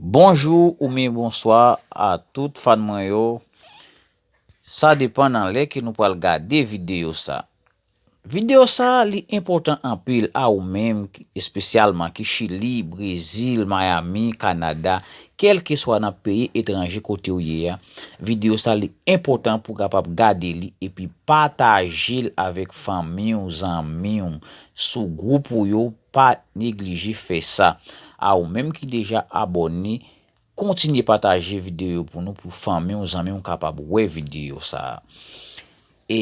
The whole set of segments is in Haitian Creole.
Bonjou ou myen bonswa a tout fan mwen yo sa depan nan lè ke nou pral gade videyo sa videyo sa li enpòtan anpil a ou menm espesyalman ki chili brezil miami canada kèlkeswa nan peyi etranje kote ou ye a videyo sa li enpòtan pou kapab gade li epi patajel avèk fanmiw zanmiw sou gwoup ou yo Pa neglije fè sa. A ou menm ki deja abòne, kontinye pataje videyo yo pou nou pou fanmi w, zanmi w kapab wè videyo sa a. E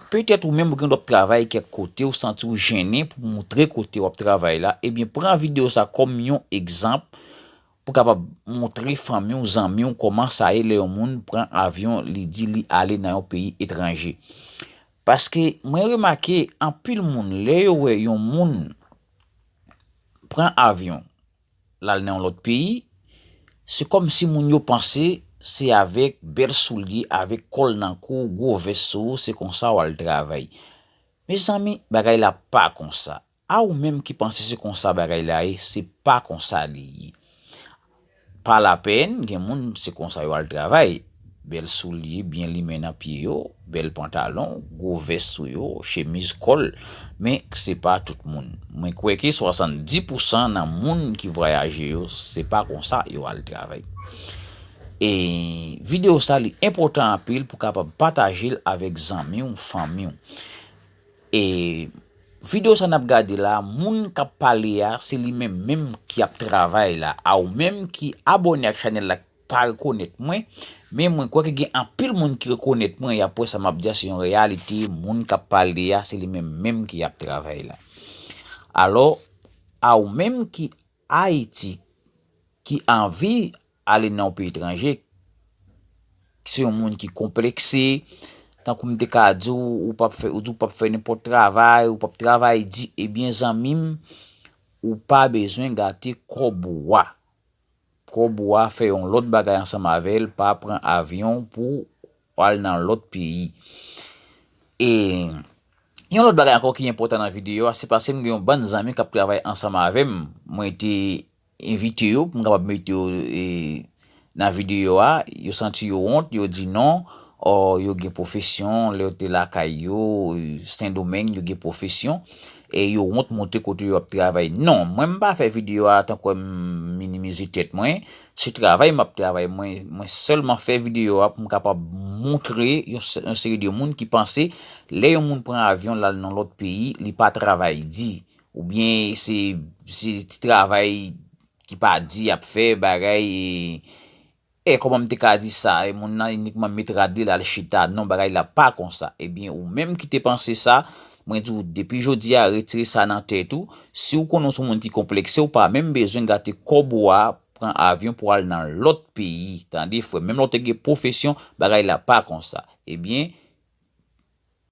petèt ou menm ou gen dwa ap travay kèk kote ou santi w jennen pou moutre kote w ap travay la, ebyen pran videyo sa kòm yon egzanp pou kapab moutre fanmi w, zanmi w kòman sa ye lè yon moun pran avyon li di li ale nan yon peyi etranje. Paske mwen remake anpil moun lè yo wè yon moun pran avyon l al nan yon lòt peyi, se kòmsi moun yo panse se avèk bèl soulye, avèk kò l nan kou, gwo vès sou ou se konsa w al travay. Mezanmi bagay la pa konsa. A ou menm ki panse se konsa bagay la ye se pa konsa li ye pa la pèn gen moun se konsa yo al travay bèl soulye byen limen nan pye yo bèl pantalon gwo vès sou yo chemiz kòl men se pa tout moun mwen kwè ke 70 pousan nan moun ki vwayaje yo se pa konsa yo al travay e video sa li enpòtan anpil pou kapab patajel avèk zanmiw fanmiw. E video sa nap gade la moun kap pale a se li menm menm ki ap travay la a ou menm ki abone ak chanel la pa rekonet mwen men mwen kwè ke gen anpil moun ki rekonet mwen yap wè sa map di a se yon reyalite moun kap pale a se li menm menm ki ap travay la alo a ou menm ki ayiti ki anvi Ale nan yon peyi etranje, se yon moun ki konplekse, tankou m te ka di w, ou pa p fè, ou di w pa p fè nenpòt travay, ou pa p travay di, ebyen zanmi m, ou pa bezwen gate kòb ou a. Kòb ou a fè yon lòt bagay ansanm avè l, pa pran avyon pou w al nan lòt peyi. E, yon lòt bagay ankò ki enpòtan nan videyo a, se pase m gen yon bann zanmi k ap travay ansanm avè m, mwen te. Envite yo pou m kapab mete yo nan videyo a, yo santi yo wont, yo di non, or yo gen pwofesyon, lè yo te lakay yo, Sendomeng, yo gen pwofesyon, e yo wont montre kote yo ap travay. Non, mwen m pa fè videyo a tankwè m minimize tèt mwen, se travay m ap travay, mwen sèlman fè videyo a pou m kapab montre yon seri de moun ki panse lè yon moun pran avyon l al nan lòt peyi, li pa travay di. Ou byen se se ti travay ki pa di yap fè bagay e kòman m te ka di sa e moun nan inikman met rad li lal chita non bagay la pa konsa e byen ou menm ki te panse sa mwen di w depi jodi a retire sa nan tèt ou si w konnen w son moun ki konplekse w pa menm bezwen gate kòb ou a pran avyon pou al nan lòt peyi tande frè m menm lè w te gen pwofesyon bagay la pa konsa e byen.